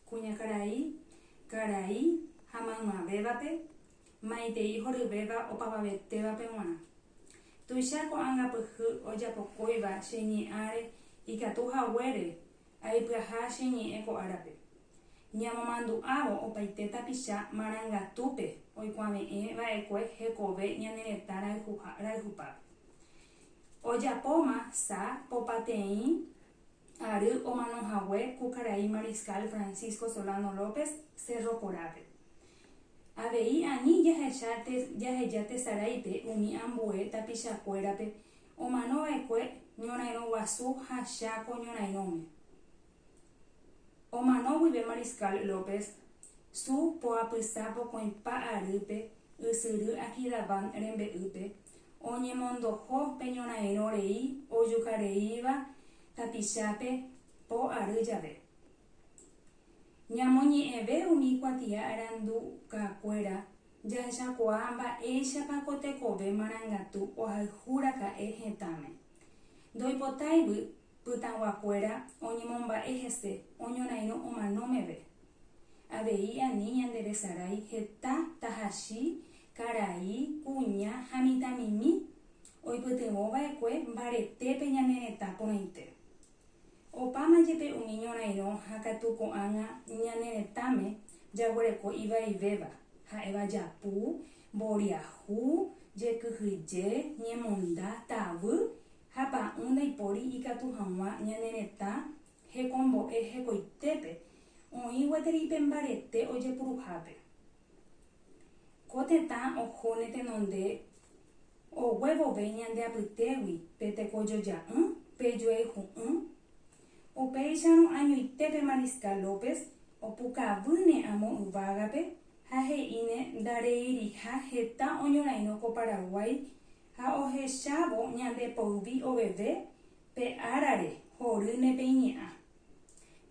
Kuñakarai, karai ha maymavévape, maitei horyvéva opavavetévape g̃uarã. Tuicha ko'ág̃a pyhy ojapokóiva che ñe'ãre ikatu haguére aipyaha che ñe'ẽ ko árape. Ñamomandu'ávo opaite tapicha marangatúpe oikuave'ẽ va'ekue hekove ñane retã rayhupápe. Ojapóma sa popateĩ ary omano hague ku karai Mariscal Francisco Solano López Cerro Corápe. Avei ani jahecha jaheja tesaráipe umi ambue tapichakuérape omanova'ekue ñorairõ guasu ha Cháko ñorairõme. Omano guive Mariscal López Su poapysa pokõipa arýpe ysyry Akidabán rembe'ýpe, oñemondoho pe ñorairõ rei ojukareíva tapichápe po ary jave. Ñamoñe'ẽve umi kuatia arandukakuéra jahechakuaa mba'éichapa ko tekove marangatu ohayhu raka'e hetãme. Ndoipotáigui pytãguakuéra oñemomba'e hese oñorairõ omano meve. Avei ani ñanderesarái heta tahachi, karai, kuña ha mitãmimi oipytyvõ va'ekue mbaretépe ñane retã porãite. Opáma jepe umi ñorairõ ha katu ko'ág̃a ñane retãme jaguereko ivaivéva, ha'éva japu, mboriahu, jekyhyje, ñemonda, tavy ha pa'ũ ndaipóri ikatu hag̃ua ñane retã Hekombo'e hekoitépe oĩ gueteri pe mbarete ojepuruhápe. Ko tetã ohóne tenonde ogue vove ñande apytégui pe tekojoja'ỹ pe joayhu'ỹ, upéicharõ añoite pe Mariscal López opukavýne amo yvágape ha he'íne ndareiriha heta oñorairõ ko Paraguái ha ohechávo ñande poyvi oveve Pe árare, horýne pe iñe'ã.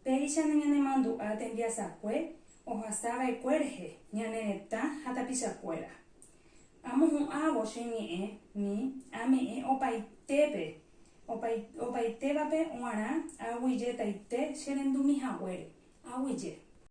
Péicha nañanemandu'a tembiasakue ohasa va'ekue rehe ñane retã ha tapichakuéra. Amohu'ãvo che ñe'ẽ mi ame'ẽ opaitépe, opaitévape oarã aguijetaite che rendumi haguére, aguije.